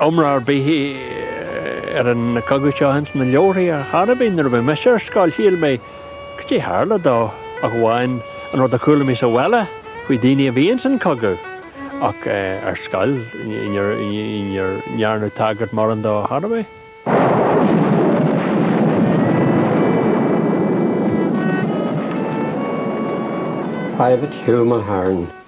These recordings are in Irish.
iomrá ar bith ar an chogadh seo ins na leabharthaí ar chor ar bith nuair a bhí mise ar scoil shíl mé caidé a tharla dó ach amháin an rud a chuala mé sa bhaile faoi daoine a bhí ins an chogadh ach ar scoil ní dhearnadh tagairt mórán dó ar chor ar bith. Private Hugh Mulhern.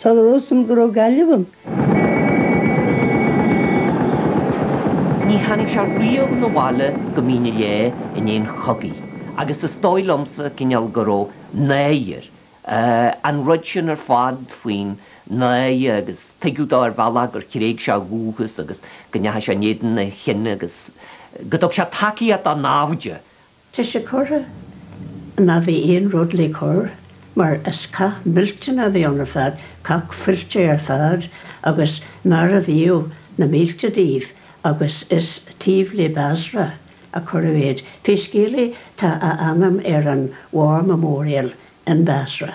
Soiléir dom go raibh Gaillimh ann. Ní tháinig sé riamh 'na bhaile go Mín an Leá i ndiaidh an chogaidh, agus is dóigh liomsa, cineál, go raibh náire, an rud sin ar fad faoin náire, agus tuigeadh dó ar bhealach gur thréig sé a dhúchas agus go ndeachaigh sé in éadan a chine agus go dtug sé tacaíocht dá naimhde. Tá sé curtha, má bhí aon rud le cur, mar is cath millteanach a bhí ann ar fad, cath fuilteach ar fad, agus maraíodh na mílte díobh, agus is taobh le Basra a cuireadh iad. Pé scéal é, tá a ainm ar an War Memorial in Basra.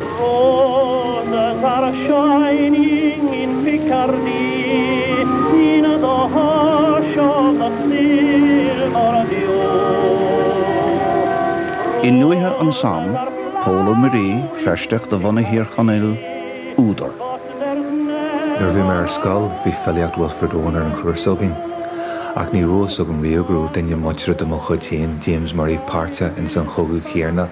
Roses are shining in Picardy, in the hush of the silver dew. I ndúiche an Somme, Pól Ó Muirí, Feirsteach de bhunadh Thír Chonaill, údar. Nuair a bhí mé ar scoil, bhí filíocht Wilfred Owen ar an chúrsa againn, ach ní raibh fhios agam riamh go raibh duine muinteartha de mo chuid féin, James Murray, páirteach ins an chogadh chéarna.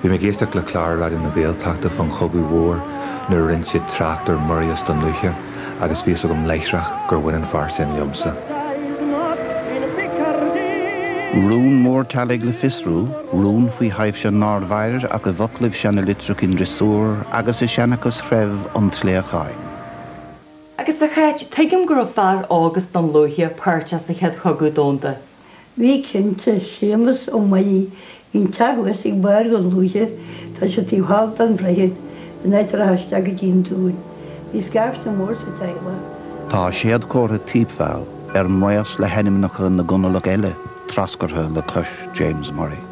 Bhí mé ag éisteacht le clár Raidió na Gaeltachta fán chogadh mhór nuair a rinne siad trácht ar Murrays Dhún Lúiche agus bhí fhios agam láithreach gur bhain an fear sin liomsa. Rún mór teaghlaigh le fiosrú, rún faoi thaibhse nár mhair ach i bhfoclaibh seana litreach i ndriosúr agus i seanchas threibh an tsléacháin. Agus a Cháit, tuigim go raibh fear as Dún Lúiche páirteach sa Chéad Chogadh Domhanda. Bhí cinnte, Séamus Ó Muirí, bhí'n teach thuas ag barr Dhún Lúiche, tá sé taobh thall den droichead, in áit a rachfá isteach go dtí'n dún. Bhí scaifte mór sa teaghlach. Tá séadchomhartha Thiepval, ar maos le hainmneacha na gConallach eile, treascartha le cois James Murray.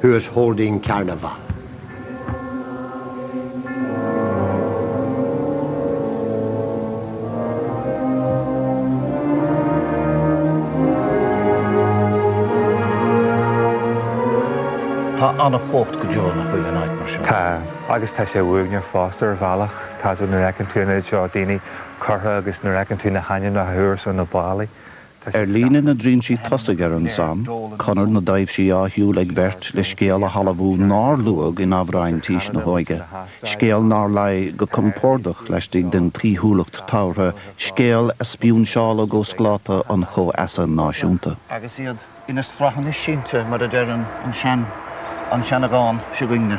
Who is holding carnival. Tá an-chumhacht go deo, nach bhfuil, in áit mar seo. Tá. Agus tá sé uaigneach fosta ar bhealach, tá fhios agat, nuair a fheiceann tú an oiread seo daoine curtha agus nuair a fheiceann tú na hainmneacha thuas ar na ballaí. Ar líne na dtrinsí tosaigh ar an Somme, conair na dtaibhsí á shiúl ag beirt le scéal a thalmhú nár luadh in amhráin tís na hóige, scéal nár luigh go compordach laistigh den tsaoithiúlacht tabhartha, scéal a spúinseáladh ó scláta an chomhfheasa náisiúnta. agus iad ina sraitheanna sínte mar a deir an seandán seo againne.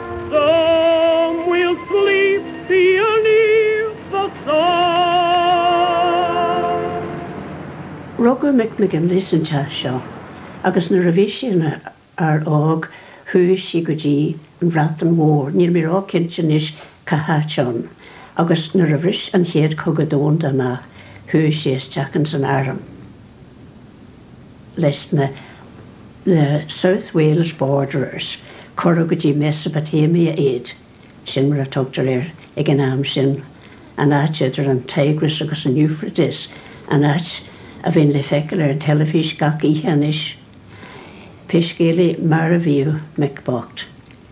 Some will sleep beneath the sun. Rugadh Mick McGinley san teach seo agus nuair a bhí sé ina fhear óg chuaigh sé go dtí an Bhreatain Mhór, níl mé ró cinnte anois cá háit ann, agus nuair a bhris an chéad chogadh domhanda amach chuaigh sé isteach ins an arm. leis na na South Wales Borderers, cuireadh go dtí Mesopotamia iad, sin mar a tugtar air ag an am sin, an áit idir an Tigris agus an Euphrates, an áit a bhíonn le feiceáil ar an teilifís gach oíche anois. Pé scéal é, marbhaíodh Mick bocht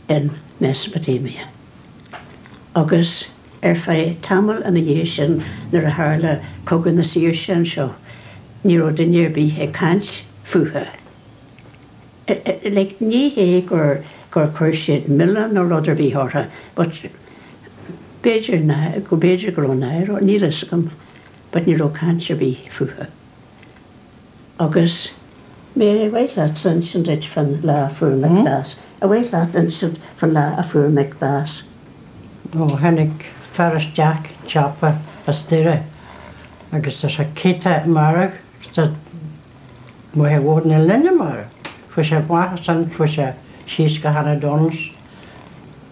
in Mesopotamia. Agus. Ar feadh tamaill ina dhiaidh sin, nuair a tharla Cogadh na Saoirse anseo, ní raibh duine ar bith ag caint fúthu. Like, ní hé gur, gur chuir siad milleán nó rud ar bith orthu, but b'fhéidir go, b'fhéidir go raibh náire orthu, níl a fhios agam, but ní raibh caint ar bith fúthu. Agus ar mhaith leat insint dúinn fán lá a fuair Mick bás, ar mhaith leat insint fán lá a fuair Mick bás. Ó tháinig fear isteach sa tsiopa as Doire agus ar seic cé tá a marbh agus tá Maighe Mhór na Linne marbh. Fuair sé mhaith as san fuair sé síos go Hannah Donald's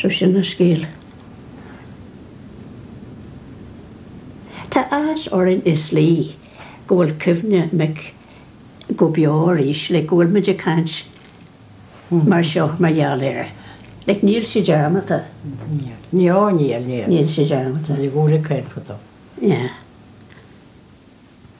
So sin an scéal. Tá áthas orainn i slí go bhfuil cuimhne Mick go beo arís, like, go bhfuil muid ag caint mar seo mar gheall air. Like, níl sé dearmadta. Níl. Ó níl, níl. Níl sé dearmadta. Bhí go leor ag caint fúthu. Yeah.